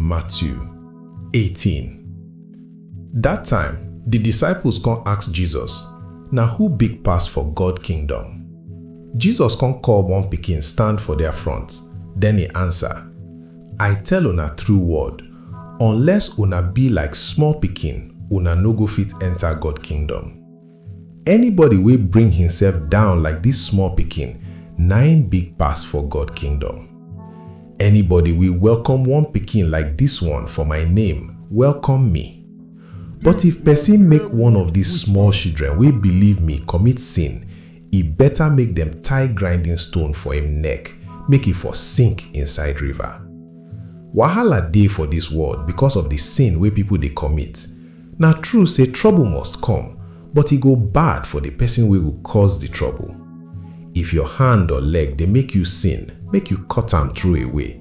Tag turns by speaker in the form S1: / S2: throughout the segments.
S1: Matthew 18 Dat time, di disciples come ask Jesus, Na who big pass for God kingdom? Jesus come call one pikin stand for their front, then he answer, I tell una true word, unless una be like small pikin, una no go fit enter God kingdom. Anybody wey bring himself down like this small pikin, na im big pass for God kingdom. Anybody we welcome one pikin like this one for my name, welcome me. But if person make one of these small shidren wey believe me commit sin, e better make dem tie grinding stone for im neck, make e for sink inside river. Wahala dey for this world because of the sin wey people dey commit, Na true sey trouble must come, but e go bad for di pesin wey go cause di trouble. If your hand or leg dey make you sin, make you cut am throw away.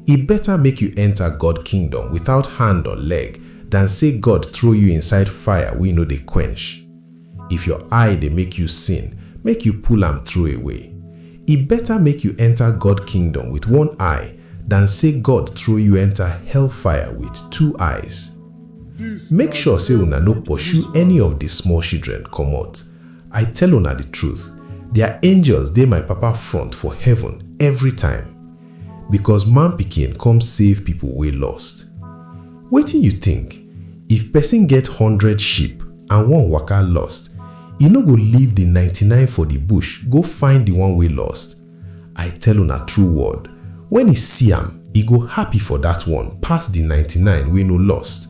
S1: E beta make you enta God kingdom without hand or leg dan sey God throw you inside fire wey no dey quench. If your eye dey make you sin, make you pull am throw away. E beta make you enta God kingdom with one eye dan sey God throw you enta hellfire with two eyes. Make sure say una no pursue any of the small shidren komot. I tell una the truth, their angels dey my Papa front for heaven every time. Because Man Pikin come save people wey lost. Wetin you think? If pesin get hundred sheep and one waka lost, e no go leave the ninety nine for the bush go find the one wey lost? I tell una true word, wen e see am, e go happy for dat one pass di ninety nine wey no lost.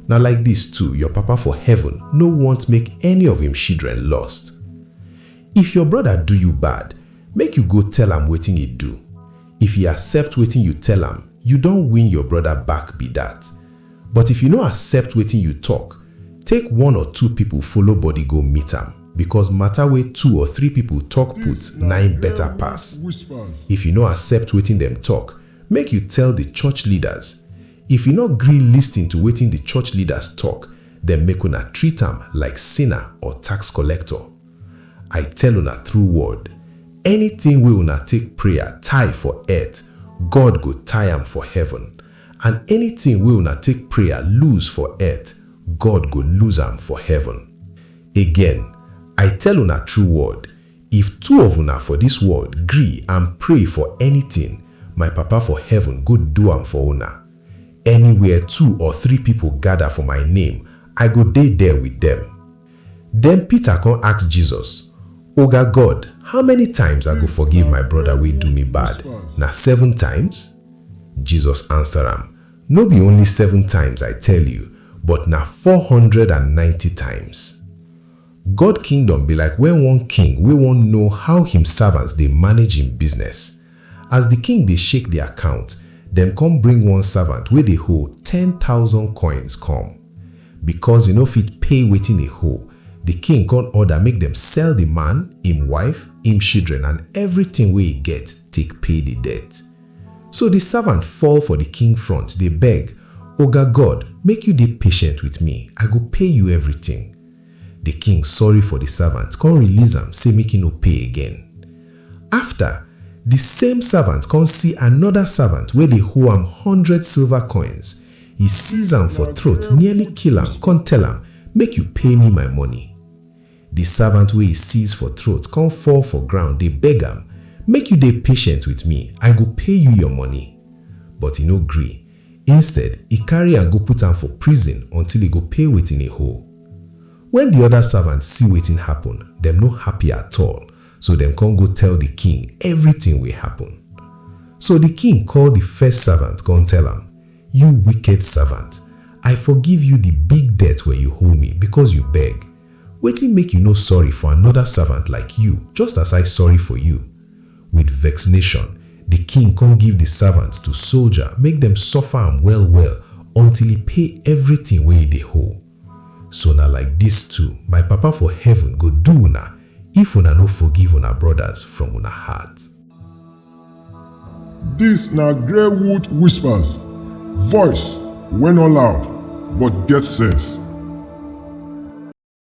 S1: Na like dis too your Papa for heaven no want make any of im shidren lost. If your broda do you bad, make you go tell am wetin e do. If e accept wetin you tell am, you don win your broda back be dat. But if you no accept wetin you talk, take one or two people follow body go meet am because matter wey two or three people talk put na im better pass. If you no accept wetin dem talk, make you tell the church leaders. If e no gree listen to wetin the church leaders talk, then make una treat am like sinner or tax collector. I tell una through word, anything wey una take prayer tie for earth, God go tie am for heaven. And anytin wey una take prayer loose for eart, God go loose am for heaven. Again, I tell una true word, if two of una for dis world gree and pray for anytin, my Papa for heaven go do am for una. Anywhere two or three pipo gada for my name, I go dey der wit dem. Den Pita kon ask Jesus, Oga God, how many times I go forgive my broda wey do mi bad? Na seven times? Jesus ansa am, No bi only seven times I tell yu, but na four hundred and ninety times. God Kingdom bi like wen one king wey won know how him savants dey manage him bizness, As di king dey shake di account, dem kon bring one savant wey dey hol ten tausand koins kom. Bikos e no fit pay wetin e hol, di king kon orda make dem sell di man, im wife, im shidren and evritin wey e get take pay di debt. So di savant fall for di king front dey beg, Oga God, make yu dey patient with mi, I go pay yu evritin. Di king sorry for di servant kon release am sey make e no pay again. Afta, di same servant kon see anoda servant wey dey hoe am hundred silver koins, e seize am for throat nearly kill am kon tell am, Make yu pay mi my money. Di servant wey e seize for throat kon fall for ground dey beg am, Make yu dey patient with mi, I go pay yu yor money. But e no gree, Instead, e carry am go put am for prison until e go pay wetin e hoe. Wen di oda servants see wetin happun, dem no happy at all, so dem come go tell di king evritin wey happun. So di king call di first servant come tell am, You wicked servant! I forgive you di big debt wey you hoe me becos you beg. Wetin make you no sorry for anoda servant like you just as I sorry for you? With vexnation di king kon give di savant to solja make dem suffer am well-well until e pay evritin wey e dey hoe. So na like dis too my Papa for heaven go do una if una no forgive una brodas from una heart. Dis na Greywood Whispers, voice wey no loud but get sense.